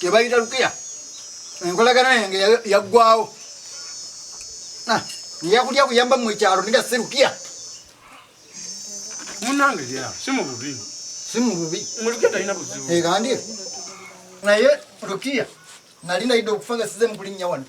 tebayita lukiya enkolagana yange yaggwawo ah, yakulya kuyamba mu ekyalo niga si lukiya munange ya si mu bubi si mu bubi mulukiya talina buzibu egandye eh, naye lukiya nali naidde okufa nga size mukulinnya wano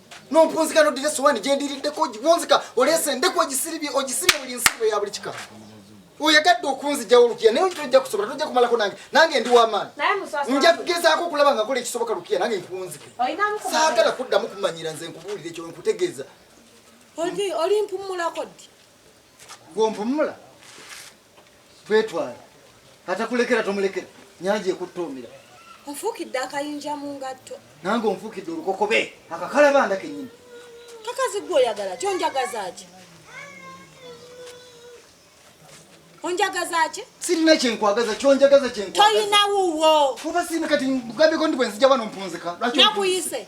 nompunzika nodira esowani gyendiriddeko wonzika oleese endeku ogisiribye ogisiribye buli nsiribwe ya buli kika oyagadde okunzijawo lukiya naye tojja kusobola tojja kumalako nange nange ndi wamaani nja kugezaako okulaba nga kola ekisoboka lukiya nange nkunzike saagala kuddamu kumanyira nze nkubuulire ekyo nkutegeeza oli mpumulako ddi gwompumula Twetwala. Atakulekera tomulekera. Nyanja ekuttoomera. Nfuukidde akayinja mu ngatto. Nange onfuukidde olukokobe akakalabanda kennyini. Kakazi gwe oyagala ki onjagaza ki? Onjagaza ki? Sirina kye nkwagaza ki onjagaza kye nkwagaza. Toyina wuwo. Kuba sirina kati nkugambeko ndi bwe nzija wano mpunzika. Lwaki nakuyise?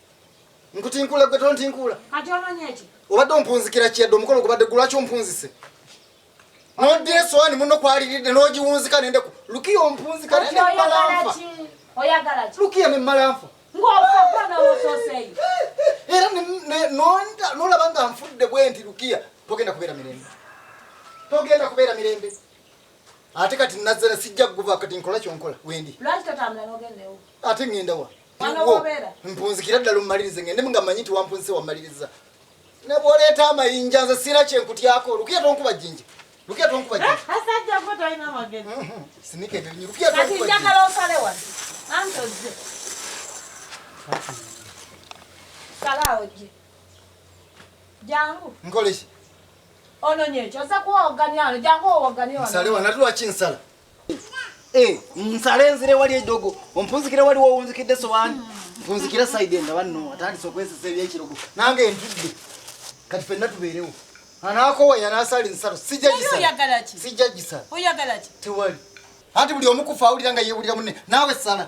Nkutinkula gwe tontinkula. Kati ononye eki? Obadde ompunzikira kiyadde omukolo gubadde gulwaki ompunzise? Nodde esowani muno kwaliridde n'ogiwunzika nende ku lukiya ompunzika nende malanfa. Oyagala ki? Lukiya ne malanfa. Ng'ofa gwa nga wososeeyo. Era nonda nolaba nga nfudde bwe nti lukiya togenda kubeera mirembe. Togenda kubeera mirembe. Ate kati nazala sijja kuva kati nkola kyonkola wendi. Lwaki tatambula n'ogenda ewo? Ate ngenda wa? mpunzikira ddala omumalirize ngende nga manyi nti wampunzise wamaliriza nebwoleeta amayinja nze siina kyenkutyako lukiya tonkuba jinja lukiya tonkuba jinja sinika ebirinyi lukiya tonkuba nkoleki ononyekyosakwoganiano jangu owogani nsale wanatulwaki nsala Eh, nsale nzire wali edogo ompunzikire wali wowunzikidde sowani mpunzikira saidi nga banno atandise okwesesa ebyekirogo nange ntudde kati fenna tubeerewo anakowa yanasala ensalo sijajisala tewali anti buli omukufa awulira nga yewulira mune naawe sala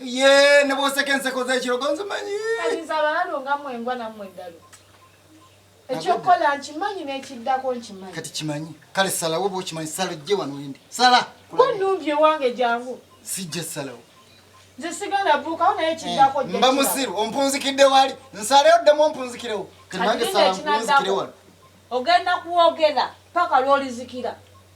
ye ne bwoseka enseko z'ekirogo nzimanyi kanyinza abalalo nga mwengwa nammwe eddalu ekyokukola nkimanyi n'ekiddako nkimanyi kati kimanyi kale salawo oba okimanyi sala ojje wano endi sala kunumbye ewange jangu sijja salawo nze sigala buukawo naye ekiddako eh, mba musiru ompunzikidde wali nsaleyo ddemu ompunzikirewo kati nange sala mpunzikire wano ogenda kwogera paka lwolizikira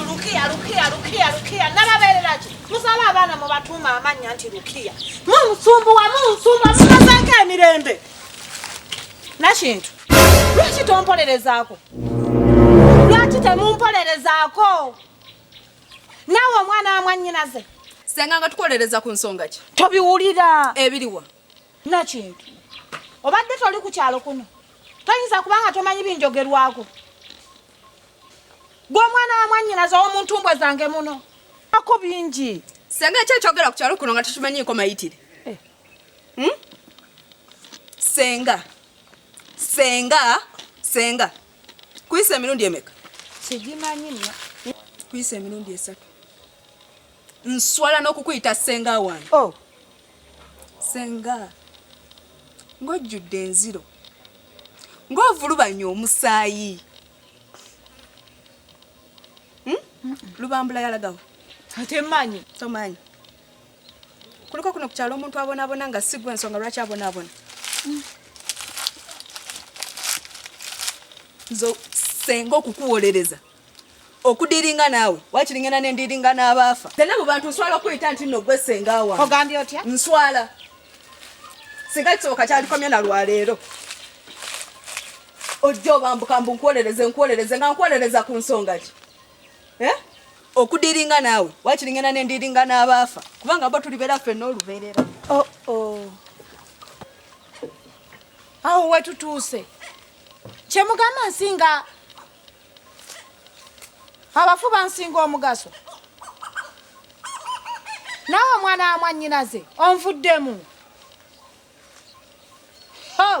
Lukiya, Lukiya, Lukiya, Lukiya, nababeerera ki? Musala abaana mubatuuma amannya nti Lukiya. Munsumbuwa, munsumbuwa, mumazeeko emirembe. Nakintu, lwaki tompolerezaako? Lwaki temumpolerezaako? Naawe omwana wa mwannyinaze. Senga nga tukolereza ku nsonga ki? Tobiwulira. Ebiriwa? Nakintu, obadde toli ku kyalo kuno. Toyinza kubanga tomanyi binjogerwako. gwe omwana wa mwannyinaze ow'omuntu mbwa zange muno ako bingi senga ekyo ekyogera ku kyalo kuno nga tukimanyiiko mayitire eh. hmm? senga senga senga kuyisa emirundi emeka sigimanyi nyo kuyisa emirundi esatu nswala n'okukuyita senga wange oh. senga ng'ojjudde enziro ng'ovulubanya omusaayi hmm? lubambula yalagawo ate manyi tomanyi kuliko kuno ku kyalo omuntu abonaabona nga sigwa ensonga lwaki abonaabona hmm. nze senga okukuwolereza okudiringa naawe wakiri ngenda nendiringa n'abaafa tena mu bantu nswala okuyita nti nno gwe senga wange ogambye otya nswala singa kisoboka kyalikomye na lwaleero ojja obambuka mbu nkuwolereze nkuwolereze nga nkuwolereza ku nsonga ki eh? okudiringa naawe wakiri ngenda nendiringa n'abaafa kubanga bo tulibeera ffe n'olubeerera oh, oh. awo wetutuuse kyemugamba nsinga abafu bansinga omugaso nawe omwana wa mwannyinaze onvuddemu oh.